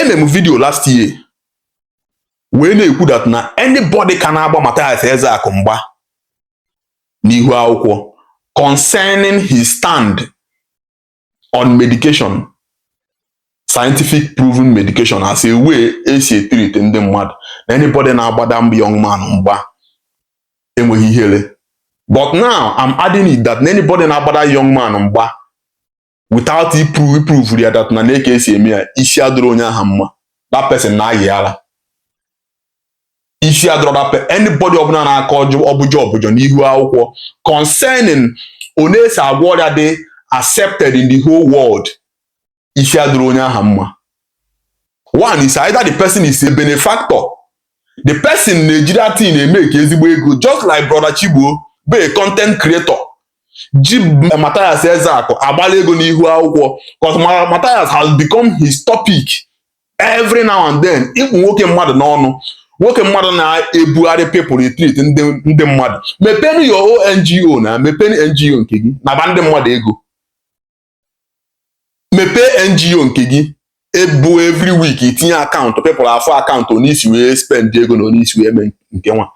eme m video last year wee na-ekwu that na anybody ka na-agba Mathias Ezeaku mgba n'ihu akwụkwọ concerning his stand on medication scientific proven medication as a way esi etreat ndị mmadụ na anybody na-agba that young man mgba enweghị ihere but now I'm adding it that anybody na-agba that young man mgba without iprove ya that na na ka esi eme ya isi adịrọ onye aha mma that person na-ayị ala isi adịrọ that person anybody ọbụla na-akọ ọbụjọ ọbụjọ n'ihu akwụkwọ concerning one esi agwọ ọrịa dị accepted in the whole world isi adịrọ onye aha mma one is either the person is a benefactor the person na-eji that thing emake ezigbo ego just like brother Chigbo bụ a content creator ji Mathias Ezeaku agbala ego n'ihu akwụkwọ because Mathias has become his topic every now and then ịkpụ nwoke mmadụ n'ọnụ nwoke mmadụ na-ebugharị people etreat ndị mmadụ mepenụ your own NGO now mepenụ NGO nke gị naba ndị mmadụ ego mepee NGO nke gị ebe every week itinye account people afụ account one isi wee spend ego na one isi wee mee nke nwa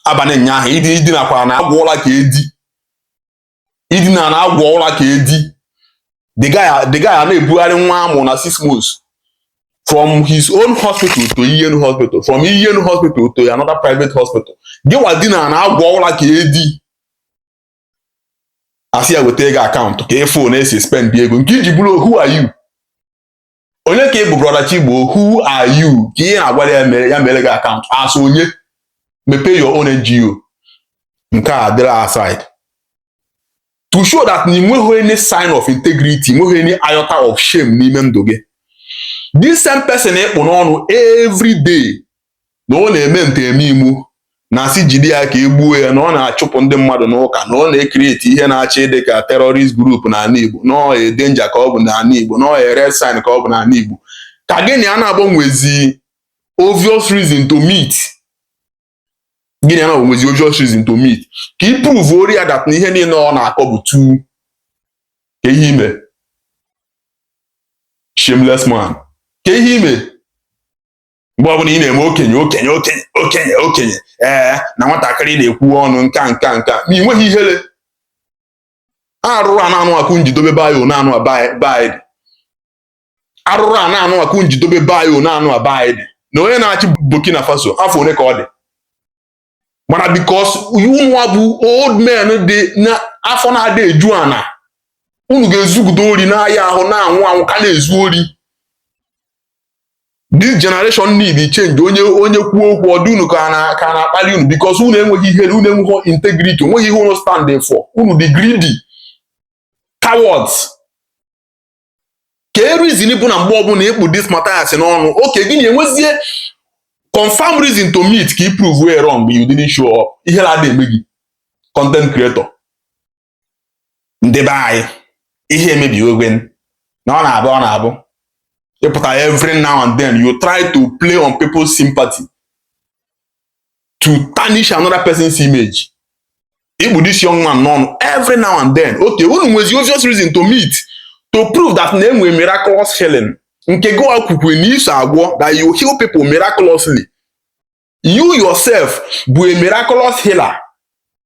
abalị nyaahụ idinakwara na-agwọ ụla ka edi idina na-agwọ ụla ka edi the guy the guy a na-ebugharị nwa amụ na six months from his own hospital to Iyienu hospital from Iyienu hospital to another private hospital gịwa dina na-agwọ ụla ka edi asị ya weta gị account ka ị fụ one esi spend ego nke iji bụrụ who are you onye ka ị bụ brother Chigbo who are you ka ị na-agwa ya meere gị account as onye mepee your own NGO nke a dịrị aside to show that na ị nweghị any sign of integrity nweghị any iota of shame n'ime ndụ gị this same person ịkpụ n'ọnụ every day na ọ na-eme nteme imu na-asị jide ya ka e gbuo ya na ọ na-achụpụ ndị mmadụ n'ụka na ọ na-ecreate ihe na-achọ ịdị ka terrorist group n'ala Igbo na ọ danger ka ọ bụ n'ala Igbo na ọ red sign ka ọ bụ n'ala Igbo ka gị na ya bịa nwezi obvious reason to meet gị na ya bịa nwezi obvious reason to meet ka ị proveoro ya that na ihe niile ọ na-akọ bụ ntụ kee ihe i me shameless man kee ihe i me mgbe ọbụla ị na-eme okenye okenye okenye okenye okenye ee na nwatakịrị na-ekwu ọnụ nka nka nka ma ị nweghị ihere arụrụ a na-anụ akụ njidobe bayo na-anụ abaị dị arụrụ a na-anụ akụ njidobe bayo na-anụ abaị dị na onye na-achị Burkina Faso afọ one ka ọ dị mana because unuwa bụ old men ndị afọ na-adị eju ana unu ga-ezugide ori n'ahịa ahụ na-anwụ anwụ ka na-ezu ori this generation need change onye onye kwuo okwu ọ dị unu ka na ka a na-akpalị unu because unu enweghị ihe unu enweghị integrity o nweghị ihe unu stand for unu dị greedy cowards ka e reason bụ na mgbe ọbụla ị kpụ this Matthias n'ọnụ okay gị na ya enwezie confirm reason to meet ka i prove ya wrong you didn't show up ihere ada eme gị content creator ndị be anyị ihe emebiwego na ọ na-abụ ọ na-abụ ị pụta every now and then you try to play on people's sympathy to tarnish another person's image ị kpụ this young man n'ọnụ every now and then okay unu nwezi obvious reason to meet to prove that na e nwe miraculous healing nke gịwa kwukwa na i so agwọ that you heal people miraculously you yourself bụ a miraculous healer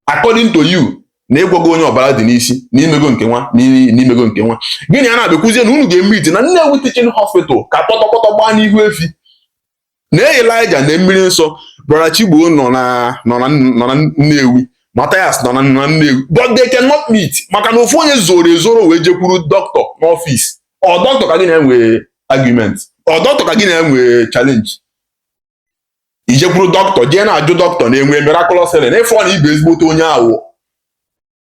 according to you na ị gwọgo onye ọbara dị n'isi na i mego nke nwa na i mego nke nwa gị na ya abịa kwuzie na unu ga-emeet na Nnewi Teaching Hospital ka kpọtọkpọtọ gbaa n'ihu efi na Elijah na mmiri nsọ brother Chigbo nọ na nọ na nọ na Nnewi Mathias nọ na nọ na Nnewi but they cannot meet maka na ofu onye zoro ezoro wee jekwuru doctor n'ọfịs ọ doctor ka gị na ya nwee argument ọ doctor ka gị na ya nwee challenge i jekwuru doctor jee na-ajụ doctor na e nwe miraculous healing ị fụ na ị bụ ezigbote onye awụ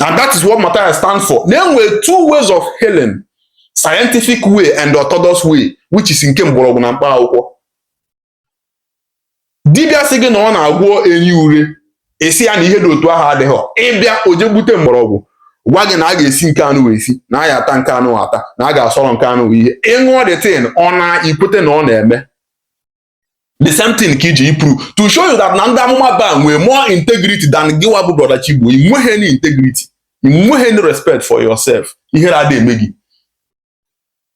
and that is what Matthias stand for na e nwere two ways of healing scientific way and orthodox way which is nke mgbọrọgwụ na mkpa akwụkwọ dibịa sị gị na ọ na-agwọ enyi ure ị sị ya na ihe dị otu ahụ adịghị ị bịa o jee gbute mgbọrọgwụ gwa gị na a ga-esi nke anụwa esi na a ya-ata nke anụwa ata na a ga-asọrọ nke anụ ihe ị ṅụọ the thing ọ na i kwete na ọ na-eme the same thing ka e ji eprove to show you that na ndị amụma Baal nwee more integrity than gịwa bụ brother Chigbo ị nweghị any integrity ị nweghị any respect for yourself ihere ada eme gị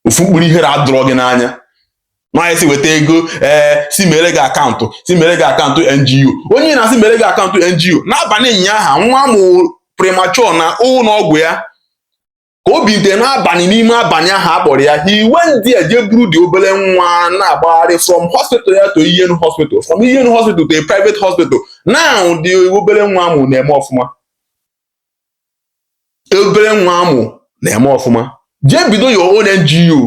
ofu mkpụrụ ihere adịrọ gị n'anya nwaanyị sị weta ego ee eh, sị mere gị akaụntụ sị mere gị akaụntụ NGO onye na-asị mere gị akaụntụ NGO n'abalị ụnyaahụ nwa a mụ premature na ụlọ ọgwụ ya ka o bilite n'abalị n'ime abalị ahụ a kpọrọ ya he went there jee buru the obere nwa na-agbagharị from hospital a to Iyienu hospital from Iyienu hospital to a private hospital now the obere nwa a mụ na-eme ọfụma obere nwa a mụ na-eme ọfụma jee bido your own NGO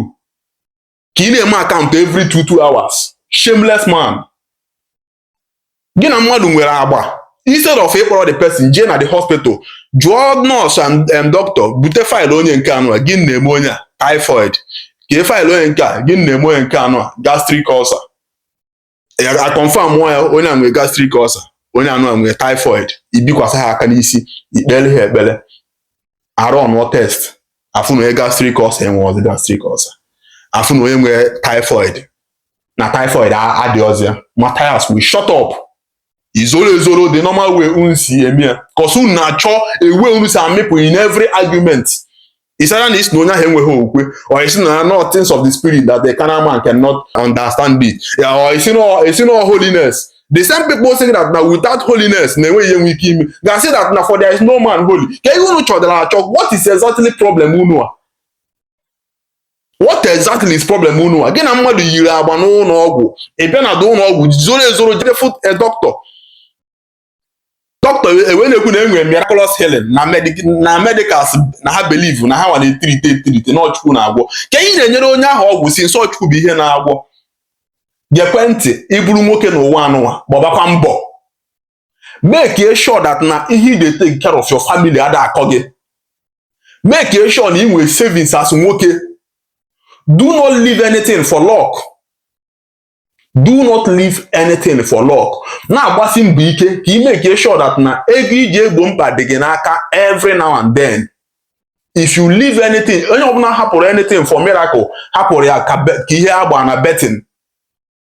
ka ị na-eme akaụntụ every two two hours shameless man gị na mmadụ nwere agba instead of ịkpọrọ the person jee na the hospital jụọ nurse and um, doctor bute file onye nke anụ a gịnị na-eme onye a typhoid kee file onye nke a gịnị na-eme onye nke anụ a gastric ulcer a confirm nwa ya onye a nwere gastric ulcer onye anụ a nwere typhoid i bikwasa ha aka n'isi i kpere ha ekpere a runụọ test a fụ na onye gastric ulcer enwe ọzọ gastric ulcer a fụ na onye nwere typhoid na typhoid adịghịzi ya Matthias wee shut up i zoro ezoro the normal way unu si eme ya cos unu na-achọ ebe unu si amịpụ in every argument ị sị na ị sị na onye ahụ enweghị okwukwe or ị sị na ọ things of the spirit that the carnal man cannot understand it or ị sị na ị sị na holiness the same people say that na without holiness na enweghị ihe nwe ike ime ga-asị that na for there is no man holy kee ihe unu chọdara achọ what is exactly problem unu a what exactly is problem unu a gị na mmadụ yiri agba n'ụlọ ọgwụ ị bịa na ụlọ ọgwụ zoro ezoro jide fụ eh, doctor doctor ewee na-ekwu na e nwere miraculous healing na medicals na ha believe na ha nwa na-etreat etreat na ọ Chukwu na-agwọ kee ihe ị na-enyere onye ahụ ọgwụ since ọ Chukwu bụ ihe na-agwọ gekwe ntị ị bụrụ nwoke n'ụwa anụnwa gbabakwa mbọ make e sure that na ihe ị ji etake care of your family ada akọ gị make e sure na ị nwere savings as nwoke do not leave anything for luck do not leave anything for luck na-agbasi mbọ ike ka ị make e sure that na ego ị ji egbo mkpa dị gị n'aka every now and then if you leave anything onye ọbụla hapụrụ anything for miracle hapụrụ ya ka ihe agba na betting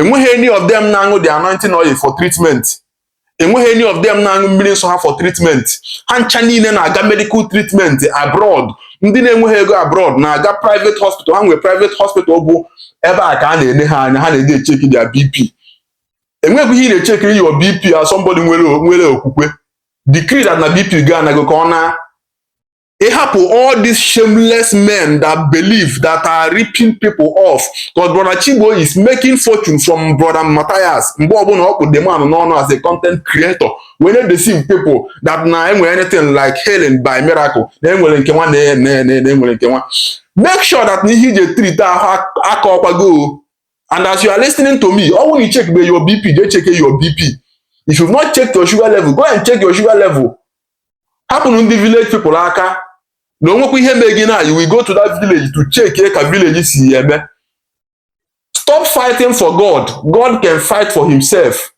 enweghị any of them na-aṅụ the anointing oil for treatment enweghị any of them na-aṅụ mmiri nsọ ha for treatment ha ncha niile na-aga medical treatment abroad ndị na-enweghị ego abroad na-aga private hospital ha nwere private hospital bụ ebe a ka a na-ene ha anya ha na-eje echeki their BP enweghị ihe ị na-echekiri your BP as somebody nwere nwere okwukwe decree that na BP gị anago ka ọ na ịhapụ all these shameless men that believe that are ripping people off because brother Chigbo is making fortune from brother Matthias mgbe ọbụla ọ kpụ the man n'ọnụ as a content creator wee na-deceive people that na enwere anything like healing by miracle na enwere nke nwa na enwere nke nwa make sure that na ihe ị ji etreat ahụ aka ọkwago and as you are listening to me ọ bụrụ na ị chekbe your bp jee cheke your bp if you've not checked your sugar level go and check your sugar level hapụnụ ndị village people aka na o nwekwa ihe mee gị na you will go to that village to check ka village si ya eme stop fighting for God God can fight for himself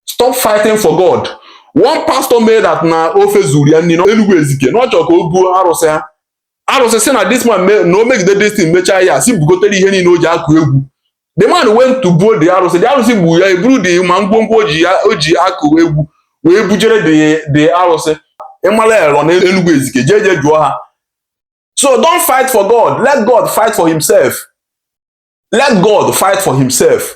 stop fighting for God one pastor made that na ofe zuru ya nni na Enugu Ezike na ọ chọrọ ka o buo arụsị ha arụsị sị na this man na o megide this thing mechaa ya sị bugotere ihe niile o ji akụ egwu the man went to buo the arụsị the arụsị gbuo ya e buru the man ngwongwo o ji akụ egwu wee bujere the arụsị ịmala ya rọ n'Enugu Ezike jee jee jụọ ha so don't fight for God let God fight for himself let God fight for himself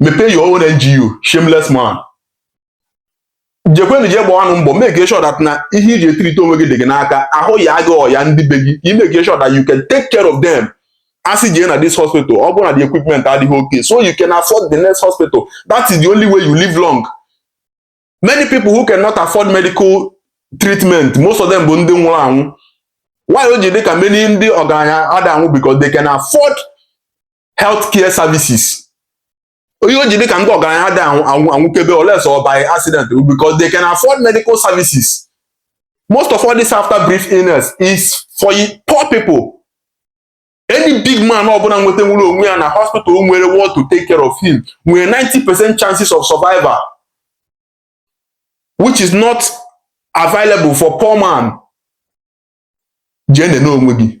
mepee your own NGO shameless man jekwenụ jee gbaanụ mbọ make sure that na ihe i ji e-treat onwe gị dị gị n'aka ahụ yaa gị ọ yaa ndị be gị i make sure that you can take care of them a sị jee na this hospital ọ bụrụ na the equipment adịghị okay so you can afford the next hospital that is the only way you live long many people who cannot afford medical treatment most of them bụ ndị nwụrụ anwụ why o ji dị ka many ndị ọgaranya ada anwụ because they can afford health care services why o ji dị ka ndị ọgaranya ada anwụkebe unless ọ by accident because they can afford medical services most of all this after brief illness is for poor people any big man ọbụla nweta nwere onwe ya na hospital nwere what to take care of him nwere 90 percent chances of survival which is not available for poor man jee nene onwe gị